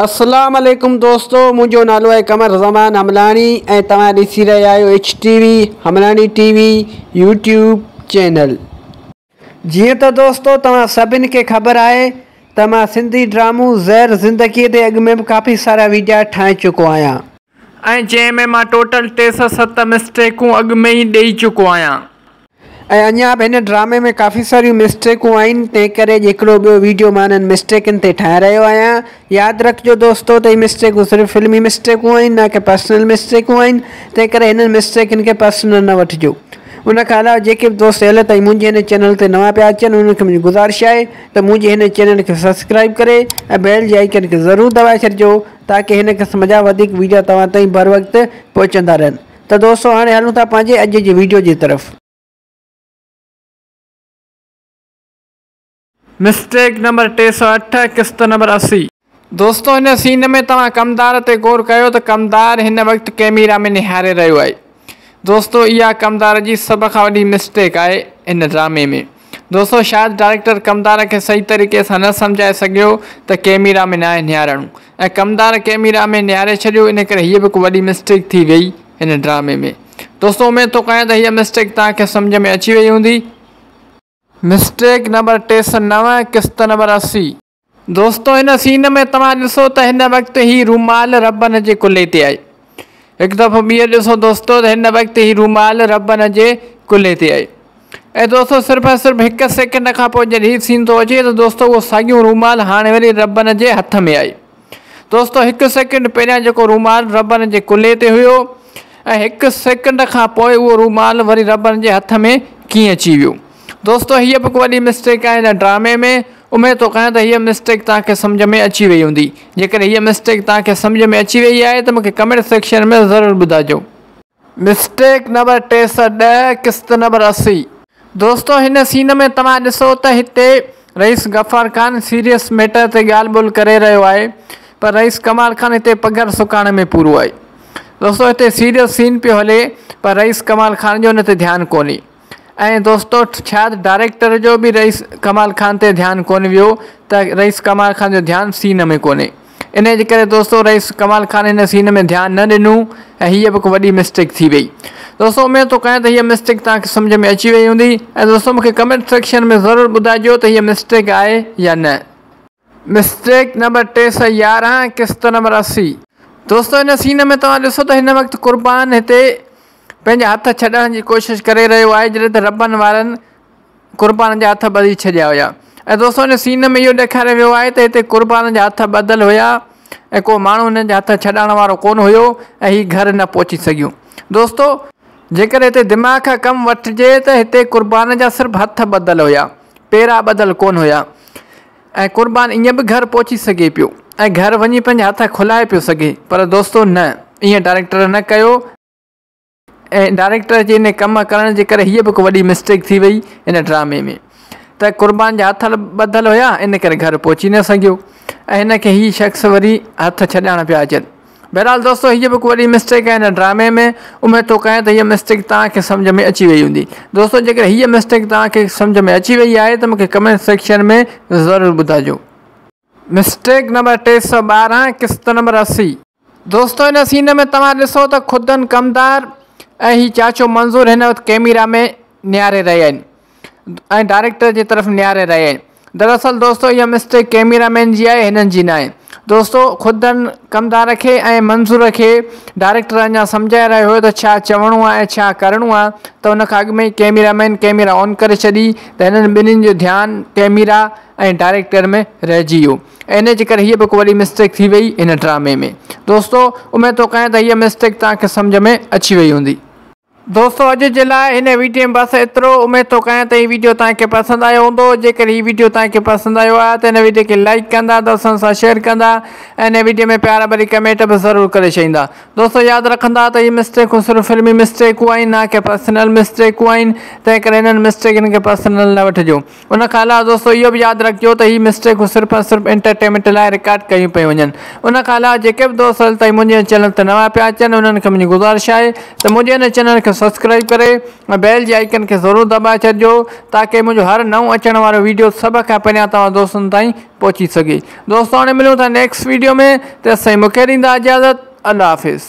اسلام عليڪم دوستو منهنجو نالو آهي قمر زمان حملاڻي ۽ توهان ڏسي رهيا آهيو H T V Hamlani T V YouTube channel جيئن ته دوستو توهان سڀن کي خبر آهي ته مان سنڌي ڊرامو زهر زندگي تي اڳ ۾ به ڪافي سارا ويڊيا ٺاهي چڪو آهيان. ۽ جنهن ۾ مان ٽوٽل ٽي سؤ ست مسٽيڪون اڳ ۾ ئي ڏئي چڪو آهيان. ۽ اڃا به هن ڊرامي ۾ ڪافي ساريون مسٽيڪون آهن تنهن ڪري اڄ هڪڙو ٻيو ويڊيو مان انهن مسٽيڪن تي ٺاهي رهيو آهيان. ياد رکجو دوستو ته هي مسٽيڪون صرف فلمي مسٽيڪون آهن نه ڪي پرسنل مسٽيڪون آهن تنهن ڪري هنن مسٽيڪن کي پرسنل نه وٺجو. ان کان علاوه جيڪي به دوست هيل تائين منهنجي هن چينل تي نوان پيا اچن انهن کي منهنجي گذارش آهي ته منهنجي هن چينل کي سبسڪرائيب ڪري ۽ بيل جي آئيڪن کي ضرور دٻائي ڇڏجو تاڪه هن قسم جا وڌيڪ وڊيو توهان تائين بر وقت پهچندا رهن ته دوستو هاڻي هلون ٿا پنهنجي اڄ جي وڊيو جي طرف. مسٽيڪ نمبر ٽي سؤ اٺ قسط نمبر اسي. دوستو هن سين ۾ توهان ڪمدار تي غور ڪيو ته ڪمدار هن وقت ڪيميرا ۾ نهاري رهيو آهي دوستو اها ڪمدار جي سڀ کان وڏي مسٽيڪ آهي ان ڊرامي ۾ دوستو شايد ڊائريڪٽر ڪمدار کي صحيح طريقي سان نه سمجهائي سگهيو ته ڪيميرا ۾ ناهي نهارڻو ۽ ڪمدار ڪيميرا ۾ نهاري ڇڏيو ان ڪري هيء به هڪ وڏي مسٽيڪ ٿي ويئي هن ڊرامي ۾ دوستو اميد ٿو ڪيان ته هيء مسٽيڪ توهان کي سمجهه ۾ اچي ويئي هوندي مسٽيڪ نمبر ٽي سؤ نو قسط نمبر اسي. دوستو هن سين ۾ توهان ڏسو ته هن وقت هي رومال ربن جي ڪلهي تي آهي هڪ دفعو ٻيهر ڏسو دوستو ته هن وقت هي رومال ربن جي ڪلهي تي آهي ۽ دوستو صرف ۽ صرف هڪ سيڪنڊ کان پوء جڏهن هي سين ٿو اچي ته دوستو اهو ساڳيون رومال هاڻي وري ربن جي هٿ ۾ آهي دوستو هڪ سيڪنڊ پهريان جيڪو رومال ربن جي ڪلهي تي هيو ۽ هڪ سيڪنڊ کان پوء اهو رومال وري ربن جي هٿ ۾ ڪيئن اچي ويو دوستو هيء به ڪو وڏي مسٽيڪ آهي هن ڊرامي ۾، اميد ٿو ڪيان ته هيء مسٽيڪ توهان کي سمجهه ۾ اچي وئي هوندي، جيڪڏهن هيء مسٽيڪ توهان کي سمجهه ۾ اچي وئي آهي ته مون کي ڪمينٽ سيڪشن ۾ ضرور ٻڌائجو. مسٽيڪ نمبر ٽي سئو ڏهه قسط نمبر اسي. دوستو هن سين ۾ توهان ڏسو ته هتي رئيس غفار خان سيريس ميٽر تي ڳالهه ٻولهه ڪري رهيو آهي پر رئيس ڪمال خان هتي پگهر سڪائڻ ۾ پورو آهي. دوستو هتي سيريس سين پيو هلي پر رئيس ڪمال خان جو ان تي ڌيان ڪونهي. ۽ دوستو شايد ڊائريڪٽر جو به رئيس ڪمال خان تي ڌيان ڪونه ويو ته رئيس ڪمال خان جو ڌيان سين ۾ ڪونهي انهي جي ڪري دوستو رئيس ڪمال خان هن سين ۾ ڌيان نه ڏنو ۽ هيء به هڪ وڏي مسٽيڪ ٿي وئي دوستو اميد ٿو ڪيان ته هيء مسٽيڪ توهان کي سمجهه ۾ اچي وئي هوندي ۽ دوستو مون کي ڪمينٽ سيڪشن ۾ ضرور ٻڌائجو ته هيء مسٽيڪ آهي يا نه. مسٽيڪ نمبر ٽي سئو يارهن قسط نمبر اسي. دوستو ان سين ۾ توهان ڏسو ته هن وقت قربان هتي پنهنجا هٿ ڇڏڻ جي ڪوشش ڪري رهيو آهي جڏهن ته ربن وارن قربان جا هٿ ٻڌي ڇڏيا هيا ۽ دوستو ان سين ۾ اهو ڏيکاريو ويو آهي ته هتي قربان جا هٿ ٻڌل هيا ۽ ڪو ماڻهو هنن جا هٿ ڇڏائڻ وارو ڪون هيو ۽ هي گهر نه پهچي سگهيون دوستو جيڪڏهن هتي دماغ کان ڪم وٺجي ته هتي قربان جا صرف هٿ ٻڌل هيا. پيرا ٻڌل ڪونه هيا ۽ قربان ائين به گهر پهچي سگهي پيو ۽ گهر وڃي پنهنجا هٿ کلائي پيو سگهي پر دوستو نه ائين ڊائريڪٽر نه ڪيو ۽ ڊائريڪٽر جي ان ڪم ڪرڻ جي ڪري هيء به هڪ وڏي مسٽيڪ ٿي وئي ان ڊرامي ۾ ته قربان جا هٿ ٻڌل هيا ان ڪري گهر پهچي نه سگهيو ۽ هن کي هي شخص وري هٿ ڇڏائڻ پيا اچن بهرحال دوستو هيء به هڪ وڏي مسٽيڪ آهي هن ڊرامي ۾ اميد ٿو ڪيان ته هيء مسٽيڪ توهان کي سمجهه ۾ اچي وئي هوندي دوستو جيڪڏهن هيء مسٽيڪ توهان کي سمجهه ۾ اچي وئي آهي ته مون کي ڪمينٽ سيڪشن ۾ ضرور ٻڌائجو. مسٽيڪ نمبر ٽي سؤ ٻارهن قسط نمبر اسي. دوستو هن سين ۾ توهان ڏسو ته خدن ڪمدار ۽ هي چاچو منظور هن وقت ڪيميرا ۾ نهاري رهيا آهن ۽ ڊائريڪٽر جي طرف نهاري رهي آهي دراصل دوستو اها مسٽيڪ ڪيميرا مين جي آهي هنن جي ناهي دوستو خود هن ڪمدار کي ۽ منظور کي ڊائريڪٽر اڃا سمجهائي رهيو هيو ته ڇا چوڻو آهي ۽ ڇا ڪرڻو آهي ته ان کان اڳ ۾ ئي ڪيميرا مين ڪيميرا آن ڪري ڇڏي ته هنن ٻنهين جو ڌيان ڪيميرا ۽ ڊائريڪٽر ۾ رهجي ويو ۽ ان جي ڪري هيء به هڪ وڏي مسٽيڪ ٿي وئي هن ڊرامي ۾ دوستو اميد ٿو ڪيان ته هيء مسٽيڪ توهان کي سمجهه ۾ اچي وئي هوندي. دوستو اڄ جي لاء هن ويڊيو ۾ بس ايترو اميد ٿو ڪيان ته هي ويڊيو توهان کي پسند آيو هوندو جيڪر هي ويڊيو توهان کي پسند آيو آهي ته هن ويڊيو کي لائيڪ ڪندا دوستن سان شيئر ڪندا ۽ هن ويڊيو ۾ پيار ڀري ڪمينٽ به ضرور ڪري ڇڏيندا دوستو ياد رکندا ته هي مسٽيڪون صرف فلمي مسٽيڪون آهن نه ڪي پرسنل مسٽيڪون آهن تنهن ڪري هنن مسٽيڪن کي پرسنل نه وٺجو ان کان علاوه دوستو اهو به ياد رکجو ته هي مسٽيڪون صرف ۽ صرف انٽرٽينمينٽ لاء رڪارڊ ڪيون پيون وڃن ان کان علاوه جيڪي به دوست هل تائين منهنجي هن چينل تي نوان پيا اچن انهن کي منهنجي گذارش آهي ته منهنجي هن چينل کي سبسڪرائيب ڪري ۽ بيل جي آئيڪن کي ضرور دٻائي ڇڏجو تاڪي منهنجو هر نئون اچڻ وارو ويڊيو سڀ کان پهريان توهان دوستن تائين پهچي سگهي دوستو هاڻي ملون ٿا نيڪسٽ ويڊيو ۾ تيسين مونکي ڏيندا اجازت الله حافظ